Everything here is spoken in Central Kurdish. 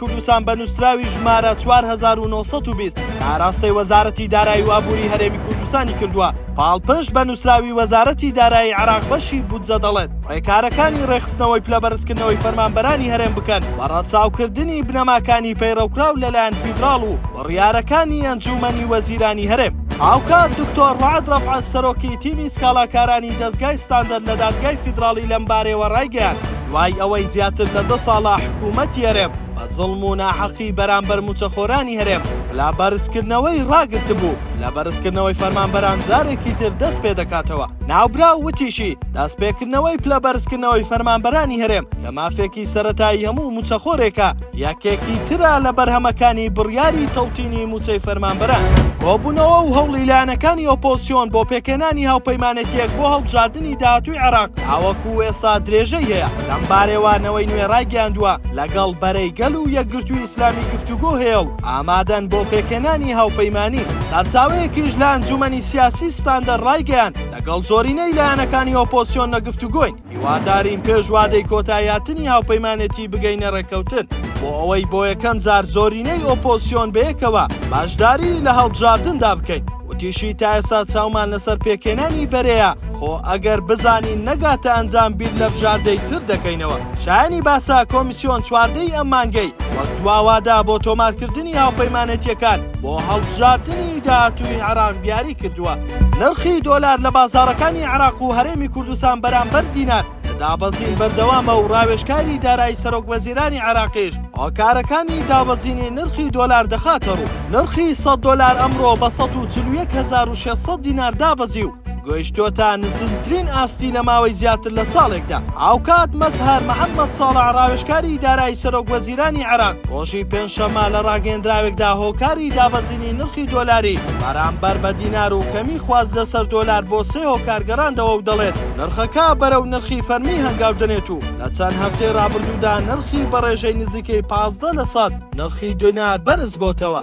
کوردستان بە نووسراوی ژمارە 4920 ئاراستەی وەزارەتی دارایی و ئابووری هەرێمی کوردستانی کردووە پاڵپشت بە نووسراوی وەزارەتی دارایی عراق بەشی بودجە دەڵێت ڕێکارەکانی ڕێخستنەوەی پلە بەرزکردنەوەی فەرمانبەرانی هەرێم بکەن بە ڕەچاوکردنی بنەماکانی پەیڕەوکراو لەلایەن فیدراڵ و بڕیارەکانی ئەنجوومەنی وەزیرانی هەرێم هاوکات دکتۆر ڕعد ڕەفعە سەرۆکی تیمی سکاڵاکارانی دەزگای ستاندەر لە دادگای فیدراڵی لەم بارەیەوە ڕایگەیاند دوای ئەوەی زیاتر لە دە ساڵە حکوومەتی هەرێم بە زوڵم و ناحەقی بەرامبەر مووچەخۆرانی هەرێم لە بەرزکردنەوەی ڕاگرتبوو، لە بەرزکردنەوەی فەرمانبەران جارێکی تر دەست پێ دەکاتەوە. ناوبراو وتیشی، دەستپێکردنەوەی پلەبەرزکردنەوەی فەرمانبەرانی هەرێم کە مافێکی سەرەتایی هەموو مووچەخۆرێکە، یەکێکی ترە لە بەرهەمەکانی بڕیاری تەوتینی مووچەی فەرمانبەران. کۆبوونەوە و هەوڵی لایەنەکانی ئۆپۆزسیۆن بۆ پێکهێنانی هاوپەیمانێتییەک بۆ هەڵبژاردنی داهاتووی عێراق تاوەکو ئێستا درێژەی هەیە، لەم بارەیەوە نەوەی نوێ رایگەیاندووە، لەگەڵ بەرەی گەل و یەکگرتووی ئیسلامی گفتوگۆ هەیە و ئامادەن بۆ پێکهێنانی هاوپەیمانی. سەرچاوەیەکیش لە ئەنجوومەنی سیاسی ستاندەر رایگەیاند، لەگەڵ زۆرینەی لایەنەکانی ئۆپۆزسیۆن لە گفتوگۆین. هیوادارین پێش وادەی کۆتاییهاتنی هاوپەیمانێتی بگەینە ڕێککەوتن بۆ ئەوەی بۆ یەکەم جار زۆرینەی ئۆپۆزسیۆن بەیەکەوە باشداریی لە هەڵبژاردندا بکەین. وتیشی، تا ئێستا چاومان لەسەر پێکهێنانی بەرەیە، خۆ ئەگەر بزانین نەگاتە ئەنجام بیر لە بژاردەی تر دەکەینەوە. شایانی باسە، کۆمیسیۆن چواردە ی ئەم مانگەی وەک دوا وادە بۆ تۆمارکردنی هاوپەیمانێتییەکان بۆ هەڵبژاردنی داهاتووی عێراق دیاری کرد. کردووە. نرخی دۆلار لە بازاڕەکانی عێراق و هەرێمی کوردستان بەرامبەر دینار لە دابەزین بەردەوامە و ڕاوێژکاری دارایی سەرۆکوەزیرانی عێراقیش هۆکارەکانی دابەزینی نرخی دۆلار دەخاتە ڕوو. نرخی سەد دۆلار ئەمڕۆ بە سەد و چل و یەک هەزار و شەش سەد دینار دابەزی و گەیشتووەتە نزمترین ئاستی لە ماوەی زیاتر لە ساڵێکدا. هاوکات مەزهەر محەممەد ساڵح ڕاوێژکاری دارایی سەرۆکوەزیرانی عێراق ڕۆژی پێنجشەممە لە ڕاگەیێندراوێکدا هۆکاری دابەزینی کەمکردنی نرخی دۆلاری بەرامبەر بە دینار و کەمی خواست لەسەر دۆلار بۆ سێ هۆکار گەڕاندەوە و دەڵێت، نرخەکە بەرەو نرخی فەرمی هەنگاو دەنێت و لە چەند هەفتەی رابردوودا نرخی بە رێژەی نزیکەی پازدە لە سەد نرخی دینار بەرزبۆتەوە.